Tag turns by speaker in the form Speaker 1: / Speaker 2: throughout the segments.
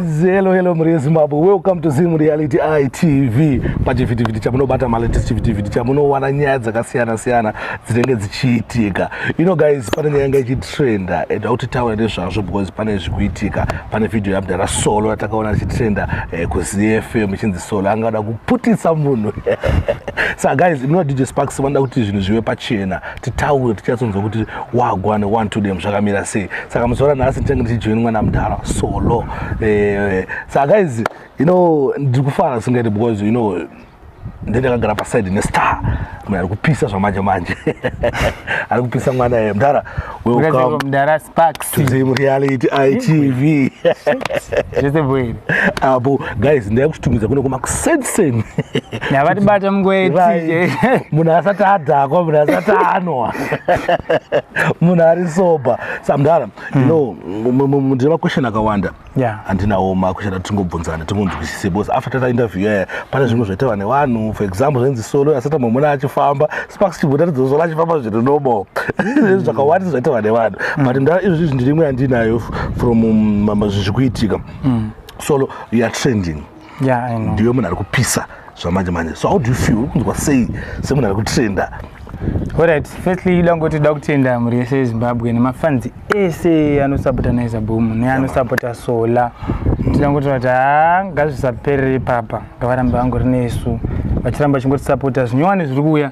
Speaker 1: Hello, hello, Maria Zimbabwe. Welcome to Zim Reality ITV. Pachivhitivhiti chamunobata malatest chivhitivhiti chamunowana nyaya dzakasiyana siyana dzinenge dzichiitika. You know guys, pane nyaya inga ichitrenda and auti taura nezvazvo because pane zvikuitika. Pane video yamdara solo yatakaona ichitrenda eh, kuZFM ichinzi solo anga ada kuputisa munhu. Saka guys, imi na DJ Sparks vanoda kuti zvinhu zvive pachena. titaure tichatsonzwa kuti wagwa neone to dem zvakamira sei saka muzora nhasi ndichange ndichijoini mwana mudhara solo eh, saka guys you know ndiri kufara singaiti because you know ndendakagara paside nestar mna ari kupisa zvamanje manje ari kupisa mwana ye mdara welcomemdara sparks
Speaker 2: tizim reality
Speaker 1: itv
Speaker 2: zvese bwere apo guys
Speaker 1: ndaya kuchitumidza kune kuma kusenseni yavatibate
Speaker 2: mungwetije munhu asati
Speaker 1: adhakwa munhu asati anwa munhu ari soba samdara hmm. no ndine maquestion akawanda handinawo maquestion atingobvunzana tingonzwisise bcause after tata interview yaya pane zvimwe zvaitawa nevanhu for example zvenzi solo asati mamuna achifamba sparks chibhuta tidzosolo achifamba zviri nobo hmm. zvakawandisa zvaitawa nevanhu hmm. but mdara izvozvi zvindirimwe yandinayo from um, zviri kuitika solo you are trending yeah i know ndiwe
Speaker 2: munhu ari kupisa
Speaker 1: zvamanje manje so how do you feel uri kunzwa sei semunhu ari kutrenda Alright,
Speaker 2: firstly ida ngoti da kutenda mhuri yese yeZimbabwe nemafans ese anosapota Naiza Boom neanosapota Sola. Tida ngoti vati haa ngazvisaperere ipapa ngavarambe vangori nesu vachiramba chingotisapota zvinyowani zviri kuuya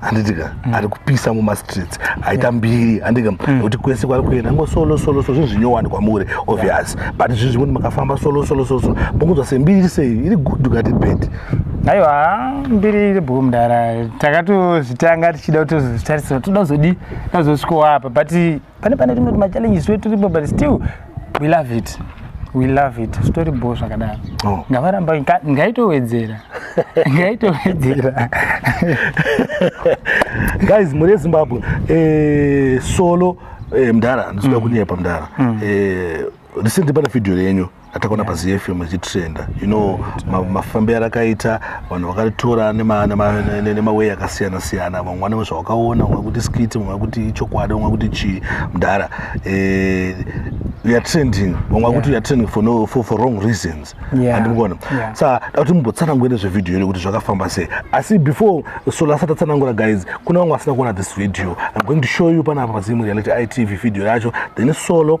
Speaker 1: handitika mm. ari kupisa mumastreets aita yeah. mbiri handitika mm. kuti kwese kwari kuenda ngo solo solo so zvinhu zvinyowani kwamuri obvious yeah. but zvinhu zvimweni makafamba solo solo solo so mokunzwa sembiri iri sei iri good ukati bad aiwa
Speaker 2: mbiri iri bhuku mudara takatozvitanga tichida kutozozvitarisira toda kuzodii tazosvikowa apa but pane pane rimwe machallenges wetiripo but still we love it we love it zvitori bho zvakadaro oh. ngavaramba ngaitowedzera ngaitowedzera
Speaker 1: guys muri ezimbabwe eh, solo eh, mdara ndisida mm. kunyepa mdara mm. eh, recently pane video yenyu atakaona yeah. pazfm ichitrenda you know mafambi arakaita vanhu vakaritora nemawei akasiyana siyana vamwe vanenge zvavakaona vamwe kuti skiti vamwe kuti ichokwadi vamwe kuti chii mdhara eh, weare trending vamwe vakuti weare trending for, no, for, for wrong reasons andimukona yeah. sa yeah. dakuti mumbotsanangure nezvevideo iri kuti zvakafamba sei asi before sola asati atsanangura guys kuna vamwe vasina kuona this video i'm going to show you panapa pazimu reality itv video yacho then solo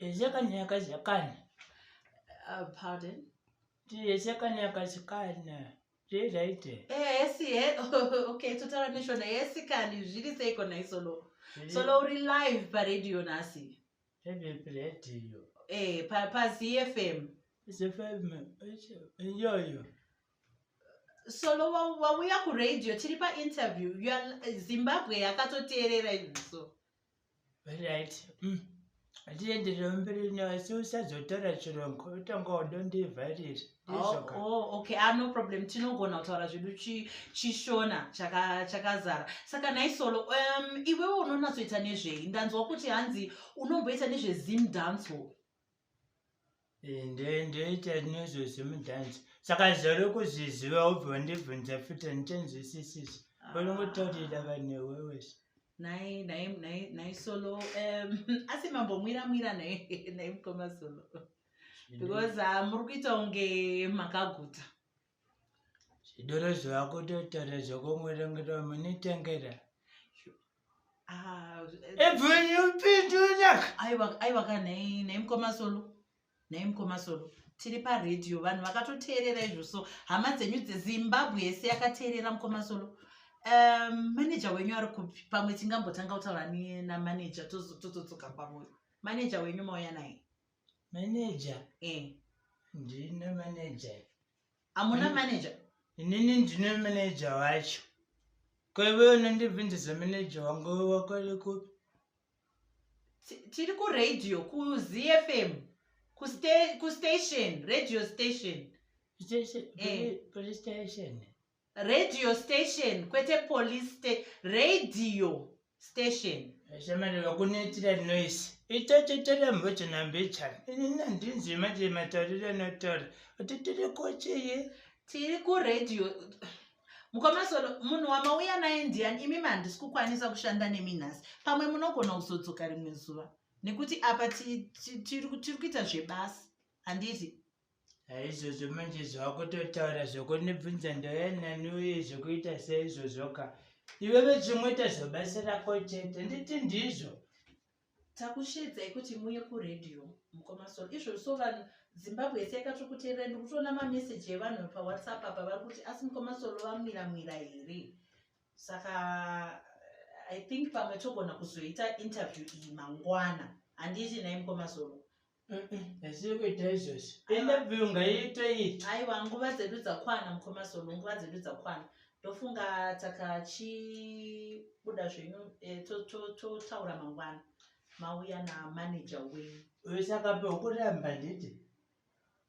Speaker 3: Yeshakanyaka shakana. Uh, pardon? Yeshakanyaka shakana. Zvezaite. Eh, esi, eh. okay, totaura neshona. Esi kani, zviri seiko na isolo. Solo uri live pa radio nasi. Heavy pa radio. Eh, pa, pa ZFM. ZFM, iyoyo. Solo wauya ku radio, tiri pa interview. Zimbabwe yakatoteerera izvo. So. right mm. atienderera mberi nayo si usazotaura chirongo utanga wadondivharira oh, oh, okay ah, no problem tinogona kutaura zvedu chishona chakazara saka naisolo um, iwewo unonatsoita nezvei ndanzwa kuti hanzi unomboita nezvezim dancehall Eh, ndoita nezvo zvemudhanzi saka zvave kuzviziva ubva wandibvunza futi andichanzwisisisi unongotaurira ah. vanhu wewese nai solo asi mambomwira mwira nai mukoma solo because ah, muri kuita kunge makaguta zvidoro zvavakutotaura zvokumurengera munitengera ah, aiwa ka naimukomasolo naimukomasolo tiri paredhiyo vanhu vakatoteerera izvo so hama dzenyu dzezimbabwe yese yakateerera mukomasolo um, maneja wenyu ari kupi pamwe tingambotanga kutaura namaneja tozodzoka pamwe maneja wenyu mauya naye manager
Speaker 4: eh. ndine manager amuna
Speaker 3: manager inini ndine
Speaker 4: manager wacho kwaive unondibvindisa manager wangu wakwari kupi tiri
Speaker 3: kuradio kuzfm kustation radio station station eh.
Speaker 4: police station radio
Speaker 3: station kwete police sta radio station shamari
Speaker 4: vakunoitira noise itatetera mbocho nambechana inini handinzwi manje matauriro anotaura kuti tiri kocheye tiri
Speaker 3: kuradio mukomasono munhu wamauya naye ndiyani imi mandisi kukwanisa kushanda nemi nhasi pamwe munogona kuzodzoka rimwe zuva nekuti apa tiri kuita zvebasa handiti izvozvo
Speaker 4: manje zvakutotaura zvokundibvunza ndouya nani uye zvokuita seizvozvoka iveve zvimweta zvobasa rako chete nditi ndizvo
Speaker 3: takushedzai kuti muye kuredio mukoma so izvo so vanhu zimbabwe yese yakatokuteerera ndikutoona mameseji evanhu pawhatsapp apa vari kuti asi mukoma solo vamwira mwira here saka i think pamwe togona kuzoita interview iyi mangwana handiiti nai mukoma solo
Speaker 4: zvekuita izvozvo enda view ngaiite iti aiwa nguva dzedu
Speaker 3: dzakwana mukoma zolo nguva dzedu dzakwana ndofunga takachibuda zvenyu eh, totaura mangwana mauya namanager wenyu uyo saka
Speaker 4: peukuramba nditi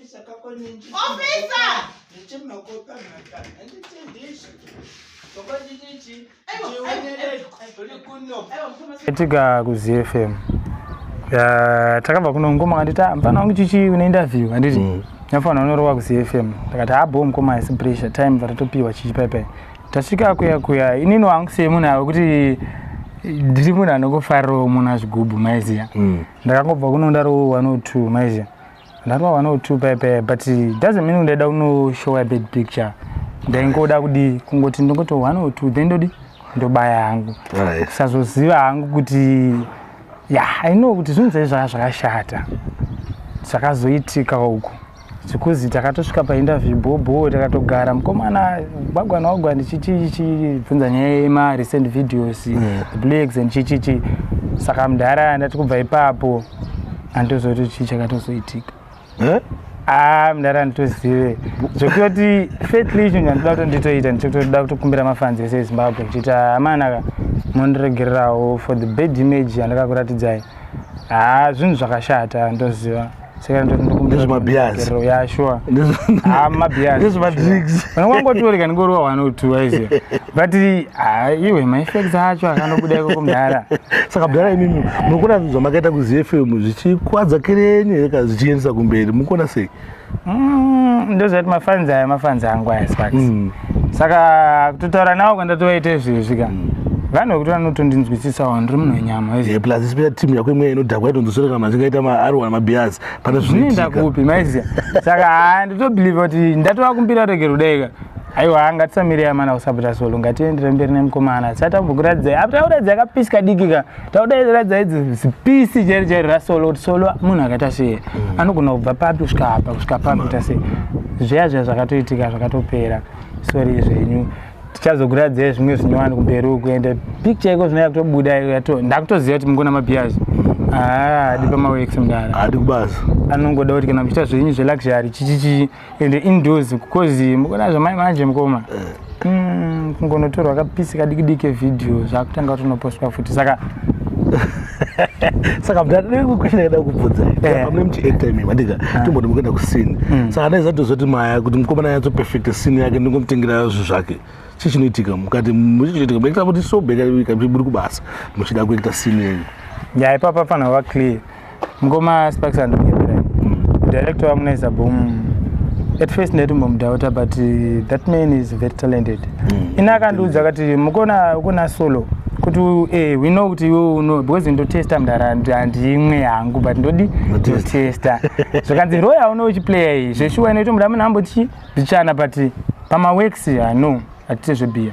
Speaker 3: Officer, kako ninji. Officer!
Speaker 4: Ninji makopa maka. Ninji tindishi.
Speaker 2: Koko ninji. Etika ku ZFM. Ya takabva kuno ngoma kanditi mfana wangu chichi une interview anditi. Mm. Nyafana unorowa ku ZFM. Takati ha ah, bomb koma is pressure time vatatopiwa chichi pai pai. tasvika kuya kuya inini wangusei munhu ava kuti ndiri munhu anongofarirawo munhu azvigubhu maiziya mm. ndakangobva kuno ndarowo one or two maiziya ndarowa one or two paipai but doesn't mean ndaida kunoshowa bad picture ndaingoda kudii kungoti ndongoto one or two then ndodii ndobaya hangu kusazoziva hangu kuti ya i know kuti zvinhu zai zvaa zvakashata zvakazoitika uku zvekuzi takatosvika painterview bhobho takatogara mukomana gwagwa nawagwa ndichichibvunza nyaya yema recent videos yeah. the blacks and chichichi saka mudhara ndati kubva ipapo anditozoti chii chakatozoitika eh? ah, mudhara anditozive zvekutoti fatly chinhu chandida kuto nditoita ndichitoda kutokumbira mafanzi ese ezimbabwe ndichiita amanaka mondiregererawo for the bad image yandakakuratidzai haa zvinhu zvakashata ndoziva sekandongotioreka
Speaker 1: ndingoriwa
Speaker 2: one or two aiziva but ah, iwe maefects acho akandobuda ikoko mudhara saka mudhara imimi
Speaker 1: munokuona zvinhu zvamakaita kuzfm zvichikwadza kerenye zvichiendesa kumberi mukuona sei Mm,
Speaker 2: ndozvati mafanzi aya mafanzi angu aya sparks mm. saka kutotaura nawo kwandatovaita izvezvi ka mm. vanhu vekuti vanotondinzwisisawo ndiri munhu wenyama eh, plus especially team yako
Speaker 1: imweya inodhakwa yatonzoswereka kana achingaita maarwa mabias pane zvinoenda kupi maiziya
Speaker 2: saka haa nditobelieve kuti ndatovakumbira rege rudaika aiwa ngatisamire amana kusapota solo ngatiendere mberi nemukomana sati ambokuradzai apti auradzai akapisika dikika taudaidza idzi zipisi chairi chairi rasolo kuti solo munhu akaita sei mm. anogona kubva papi kusvika apa kusvika papi kuita sei zveya zveya zvakatoitika zvakatopera sori zvenyu tichazokuradzai zvimwe zvinyowani kumberi uku ende picture iko zvinoya kutobuda ndakutoziva kuti mungona mabiyazi haa ah, adi pamawex mdara adi kubasa
Speaker 1: anongoda kuti kana
Speaker 2: muchiita zvenyu zveluxury chichichii ende indoors because mukona zvamai manje mukoma eh. mm, kungonotorwa kapisi kadikidiki kevideo zvakutanga kutonopostwa futi saka
Speaker 1: saka mdaakuenda kubvunza eh. amune muchiacta imi mandika ah. timboti mukuenda kusini mm. saka ndaizatozoti maya kuti mukomana yatso perfect sini yake ndingomutengera zvinhu zvake chii chinoitika mukati muchichiitika muekta kuti sobekaikaburi kubasa muchida kuekta sini yenyu ya ipapa
Speaker 2: fanira kuva clear mukoma sparks andonyepera hmm. director wamunaiza boom at first ndaitombomudhauta but uh, that man is very talented mm. ini akandiudza akati mukona ukona solo kuti eh, we know kuti iwe uno because ndotesta mdara handimwe hangu but ndodi ndotesta zvakanzi roya uno uchiplaya iyi zveshuwa inoito muda munhu ambotichi ndichana but pamaworks hano hatite zvebiya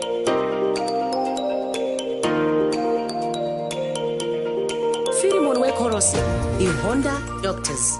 Speaker 5: Philemon Wekorosi, Ihonda Doctors.